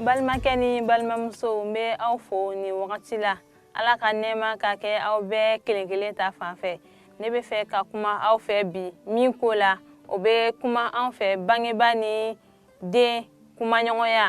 balimakɛ ni balimamusow n bɛ aw fo nin wagati la ala ka nɛɛma ka kɛ aw bɛɛ kelen kelen ta fan fɛ ne bɛ fɛ ka kuma aw fɛ bi min ko la o bɛ kuma an fɛ bangebaa ni den kumaɲɔgɔnya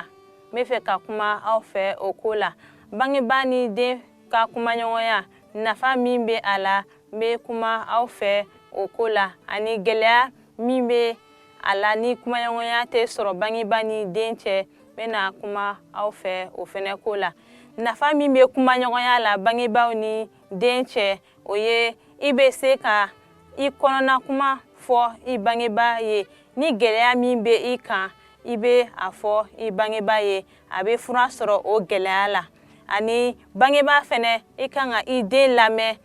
n bɛ fɛ ka kuma aw fɛ o ko la bangebaa ni den ka kumaɲɔgɔnya nafa min bɛ a la n bɛ kuma aw fɛ o ko la ani gɛlɛya min bɛ a la ni kumaɲɔgɔnya tɛ sɔrɔ bangebaa ni den cɛ n bɛna kuma aw fɛ o fɛnɛ ko la nafa min bɛ kumaɲɔgɔnya la bangebaaw ni den cɛ o ye i bɛ se ka i kɔnɔna kuma fɔ i bangebaa ye ni gɛlɛya min bɛ i kan i bɛ a fɔ i bangebaa ye a bɛ fura sɔrɔ o gɛlɛya la ani bangebaa fɛnɛ i kan ka i den lamɛn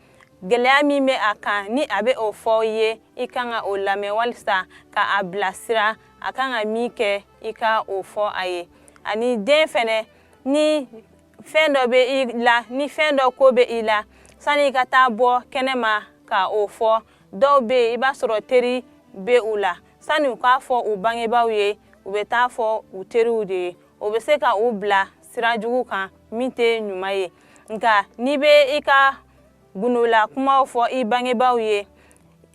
gɛlɛya min bɛ a kan ni a bɛ o fɔ i ye i kan ka o lamɛn walisa ka a bilasira a kan ka min kɛ i ka o fɔ a ye ani den fɛnɛ ni fɛn dɔ bɛ i la ni fɛn dɔ ko bɛ i la sani i ka taa bɔ kɛnɛma ka o fɔ dɔw bɛ yen i b'a sɔrɔ teri bɛ u la sani u k'a fɔ u bangebaaw ye u bɛ taa fɔ u teriw de ye o bɛ se ka u bila sira jugu kan min tɛ ɲuman ye nka n'i bɛ i ka gundola kumaw fɔ i bangebaaw ye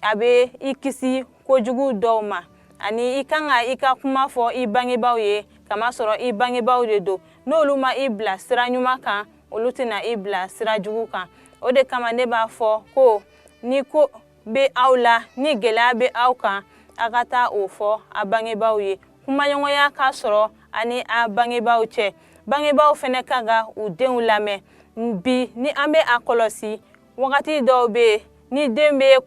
a bɛ i kisi kojugu dɔw ma ani i kan ka i ka kuma fɔ i bangebaaw ye kamasɔrɔ i bangebaaw de don n'olu ma i bila sira ɲuman kan olu tɛna i bila sira jugu kan o de kama ne b'a fɔ ko ni ko bɛ aw la ni gɛlɛya bɛ aw kan a ka taa o fɔ a bangebaaw ye kumaɲɔgɔnya ka sɔrɔ a ni a bangebaaw cɛ bangebaaw fɛnɛ kan ka u denw lamɛn bi ni an bɛ a kɔlɔsi wagati dɔw bɛ yen ni den bɛ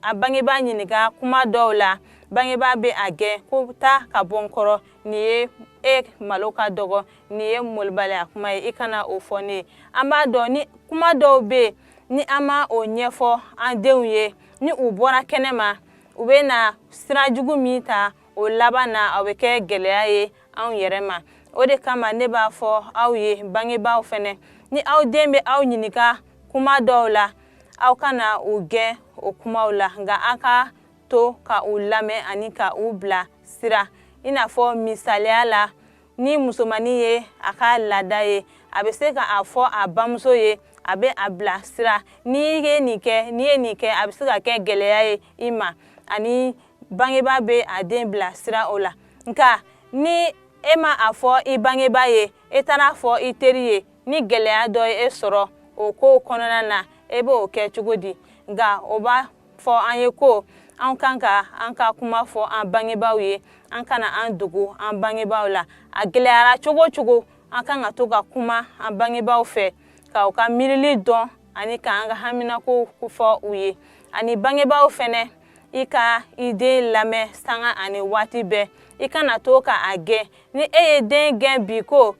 a bangebaa ɲininka kuma dɔw la bangebaa bɛ a gɛn ko taa ka bɔ n kɔrɔ nin ye e malo ka dɔgɔ nin ye malobaliya kuma ye i kana o fɔ ne ye an b'a dɔn ni kuma dɔw bɛ yen ni an ma o ɲɛfɔ an denw ye ni u bɔra kɛnɛ ma u bɛna sira jugu min ta o laban na o bɛ kɛ gɛlɛya ye anw yɛrɛ ma o de kama ne b'a fɔ aw ye bangebaaw fɛnɛ ni aw den bɛ aw ɲininka kuma dɔw la aw kana u gɛn o kumaw la nka a ka to ka u lamɛn ani ka u bilasira i n'a fɔ misaliya la ni musomannin ye a ka laada ye a bɛ se ka a fɔ a bamuso ye a bɛ a bilasira n'i ye nin kɛ n'i ye nin kɛ a bɛ se ka kɛ gɛlɛya ye i ma ani bangebaa bɛ a den bilasira o la nka ni e ma a fɔ i bangebaa ye e taara a fɔ i teri ye ni gɛlɛya dɔ ye e sɔrɔ o kow kɔnɔna na e b'o kɛ cogo di nka o b'a fɔ an ye ko an kan ka an ka kuma fɔ an bangebaaw ye an kana an dogo an bangebaaw la a gɛlɛyara cogo cogo an kan ka to ka kuma an bangebaaw fɛ ka u ka miirili dɔn ani k'an ka haminako fɔ u ye ani bangebaaw fɛnɛ i ka i den lamɛn sanga ani waati bɛɛ i kana to ka a gɛn ni e ye den gɛn bi ko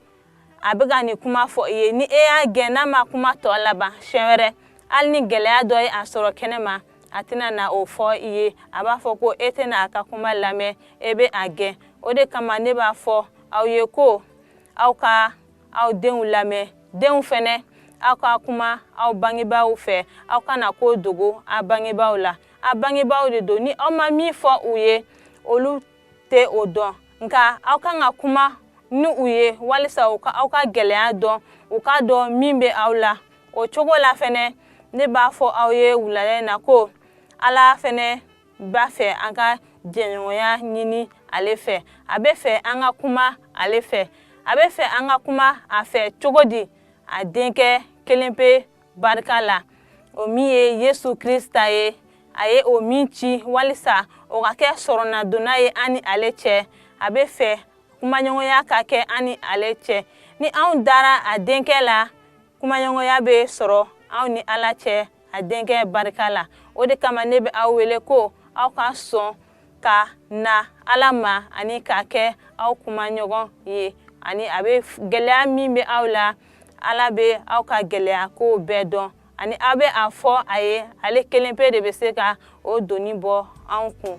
a bɛ ka nin kuma fɔ i ye ni e y'a gɛn n'a ma kuma tɔ laban siɲɛ wɛrɛ hali ni gɛlɛya dɔ ye a sɔrɔ kɛnɛ ma a tɛna na o fɔ i ye a b'a fɔ ko e tɛna a ka kuma lamɛn e bɛ a gɛn o de kama ne b'a fɔ aw ye ko aw ka aw denw lamɛn denw fɛnɛ aw ka kuma aw bangebaaw fɛ aw kana ko dogo aw bangebaaw la aw bangebaaw de don ni aw ma min fɔ u ye olu tɛ o dɔn nka aw kan ka kuma ni u ye walisa u ka aw ka gɛlɛya dɔn u k'a dɔn min bɛ aw la o cogo la fɛnɛ ne b'a fɔ aw ye wulada in na ko ala fɛnɛ b'a fɛ an ka jɛɲɔgɔnya ɲini ale fɛ a bɛ fɛ an ka kuma ale fɛ a bɛ fɛ an ka kuma a fɛ cogo di a denkɛ kelen pe barika la o min ye yesu krista ye a ye o min ci walisa o ka kɛ sɔrɔnadonna ye an ni ale cɛ a bɛ fɛ kumaɲɔgɔnya ka kɛ an ni ale cɛ ni anw dara a denkɛ la kumaɲɔgɔnya bɛ sɔrɔ anw ni ala cɛ a denkɛ barika la o de kama ne bɛ aw wele ko aw ka sɔn ka na ala ma ani k'a kɛ aw kumaɲɔgɔn ye ani a bɛ gɛlɛya min bɛ aw la ala bɛ aw ka gɛlɛya ko bɛɛ dɔn ani aw bɛ a fɔ a ye ale kelen pe de bɛ se ka o doni bɔ anw kun